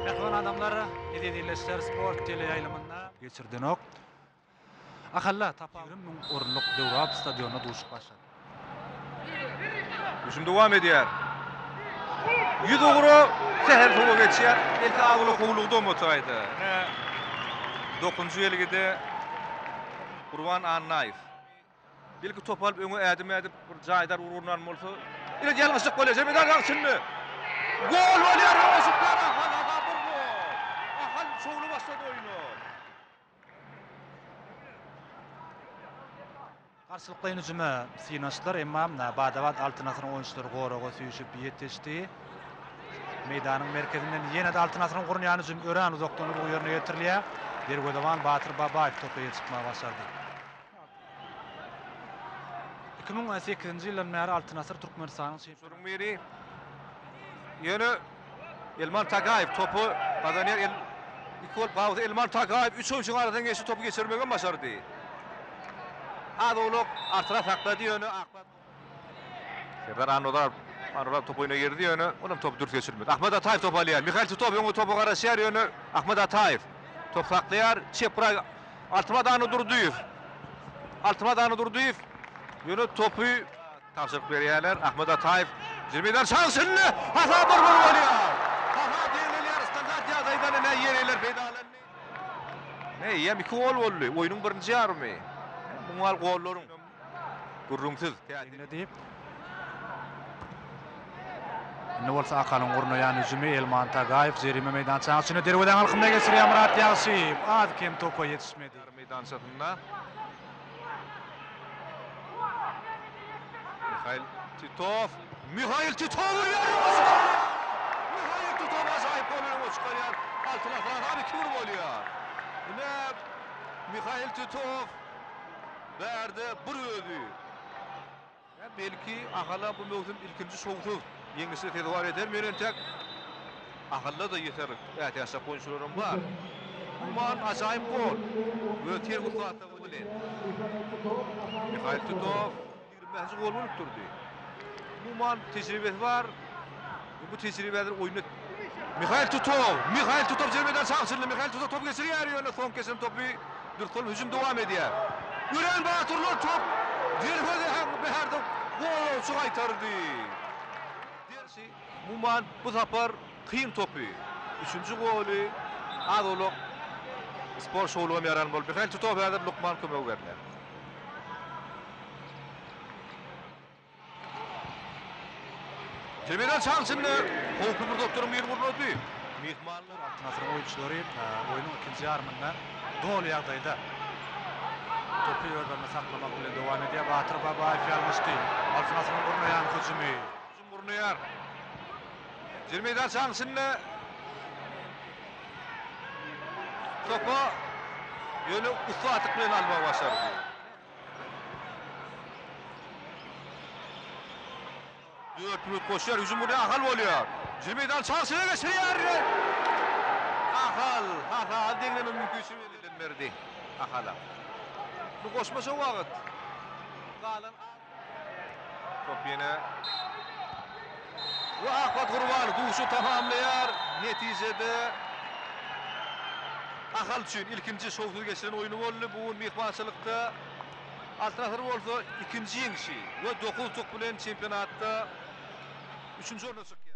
Mähriban adamlar, Biz Ezileşer sport teleýaýlymynda geçirdenok. Ahalla tapawudy müň orunlyk döwrap stadionynda duşup başlady. Hüjüm dowam edýär. Ýüz ugra sähel sowa geçýär. Belki agyly howlugdam otaýdy. Ine, dokuzynjy belgide Gurban Annaýew. Belki top alyp öňe ädim ädip bir jaýdar urgundan bolsa. Ine ýalňyşlyk bolýar. Jemedar aň içinde. Gol bolýar Öweşikler Ahal aga bir gol. Ahal şowly başlady oýna. Garşylyklaýyn hüjüme synanyşdylar, emma bada-bat Altyn Asyryň oýunçylary goraga süýşüp ýetişdi. Meýdanyň merkezinden ýene-de Altyn Asyryň gurnaýan hüjümi örän uzakdan urgy ýerine ýetirilýär. Derwezeban Batyr Babaýew topa ýetişmegi başardy. Iki müň on sekizinji ýyldan bäri Altyn asyr Türkmenistanyň çempionatyna biri. Ýöne Elmar Tagaýew topy gazanýar. El iki gol pawzy Elmar Tagaýew üç oýunçynyň arasyndan geçip topy geçirmegi hem başardy. Az owlak artyra saklady ýöne akmak. Serdar Annazarow. Annazarow topu oýna girdi, ýöne olam topy dürs geçirmedi. Ahmet Ataýew topy alýar. Mihail Titow öňe topa garaşýar, ýöne Ahmet Ataýew top saklaýar. Çep guraý Altamyrat Annadurdyýew. Altamyrat Annadurdyýew ýöne topy tabşyryk berýärler. Ahmet Ataýew jyny meýdan şaňşyny hasap bir bolup alýar. Hasap ýeňilýär. Standart ýagdaýdan ine ýerliler peýdalandy. Ine eýýäm iki gol boldy oýnuň birinji ýarymy. Muňal gollaryň. Gürrüňsiz, täsin. Indi diýip. Indi bolsa Akalyň gurnaýan hüjümi Elman Tagaýew jerime meýdançaň içinde derwezäň alkymyna geçirýär Myrat Ýagşyýew. Az-kem topa ýetişmedi. Ýarym meýdançasynda. Mihail Titow. Mihail Titow urýar we goly çykarýar! Mihail Titow ajaýyp gol bilen goly çykarýar. Altyn asra has iki gol bolýar. Ine Mihail Titow. Bärde bir özi. Ýa belki Ahala bu möwsüm ilkinji şowsuz ýeňişe sezewar edermi entek? Ahalla-da ýeter ätiýaçlyk oýunçylaram bar. Umuman ajaýyp gol. Öz terwir saýtlaryň bilen. Mihail Tutow. Bäşinji gol bolup durdy. Umuman tejribesi bar. Bu tejribäni oýnat. Mihail Tutow, Mihail Tutow zerbedan çagşyryldy. Mihail Tutow top geçirýär, ýöne soň geçen topy durkul hüjüm dowam edýär. Örän batyrlar top zerbe hem bärde gollawçy gaýtardy. Dersi umuman bu sapar kyn topy. Üçünji goly az-owlak sport şowlugam ýaran bolup. Mihail Tutow häzir lukman kömegi berler. Tebigen çaň içinde howply bir zotlaryň birini gurnady. Myhmanlar Al Nassryň oýunçylary oýnuň ikinji ýarymynda doly ýagdaýda topy özlerinde saklamak bilen dowam edýär. Batyr Babaýew ýalňyşdy. Al Nassryň gurnaýan hüjümi. Hüjüm gurnaýar. Jer meýdan çaň içinde topa ýöne ussatlyk bilen almagy başardy. Dört minut goşýar, hüjüm gurýar, Ahal bolýar. Hüjümi meýdan çarşyna geçirýär. Ahal, Ahal deňleme mümkinçiligi elden berdi Ahala. Bu goşmaça wagt. Galan top ýene We Ahmet Gurban duşy tamamlaýar. Netijede Ahal üçin ilkinji şowsuz geçiren oýny boldy bu gün myhmançylykda. Altynasar bolsa ikinji ýeňşi we dokuz utuk bilen çempionatda üçünji orna çykýar.